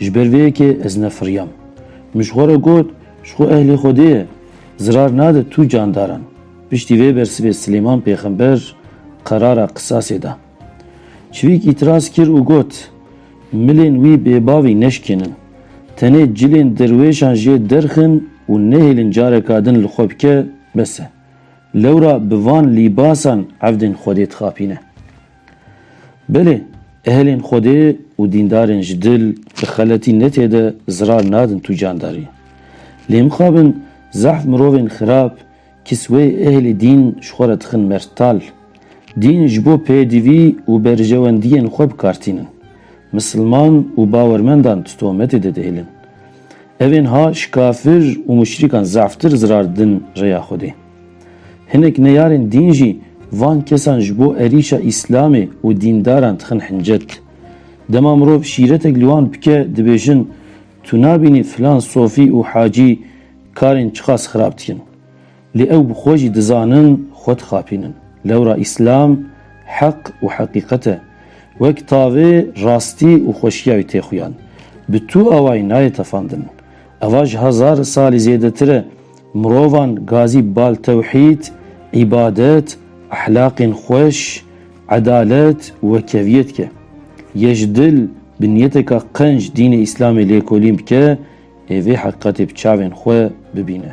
Ji ber vê yekê ez nefiriyam. Min ji xwe re got, ji xwe ehlê Xwedê ye, zirar nade tu candaran. Piştî vê bersivê Silêman pêxember qerara qisasê da. Çivîk îtiraz kir û got, Milên wî bêbavî neşikênin. Tenê cilên derwêşan jê derxin û nehêlin careka din li xwe bike, bes e. Lewra bi van lîbasan evdên Xwedê dixapîne. Belê, ehlên Xwedê û dîndarên ji dil bi xeletî netê de zirar nadin tu candarî. Lê mixabin zehf mirovên xirab, kisweyê ehlê dîn ji xwe re dixin mertal. Dîn ji bo pêdivî û berjewendiyên xwe bi kar tînin. Misilman û bawermendan di tohmetê de dihêlin. Evên ha ji kafir û muşrîkan zehftir zirar didin rêya Xwedê. Hinek neyarên dîn jî van kesan ji bo erîşa îslamê û dîndaran dixin hincet. Dema mirov şîretek li wan bike dibêjin tu nabînî filan sofî û hacî karên çiqas xirab dikin. Lê ew bi xwe jî dizanin xwe dixapînin. Lewra îslam heq û heqîqet e. Wek tavê rastî û xweşiya wî tê xuyan. Bi tu awayî nayê tefandin. Eva ji hezar salî zêdetir e. Mirovan gazî bal tewhîd, îbadet, ehlaqên xweş, edalet û keviyê dike. Yê ji dil bi niyeteka qenc dînê Îslamê lêkolîn bike ê vê heqîqetê bi çavên xwe bibîne.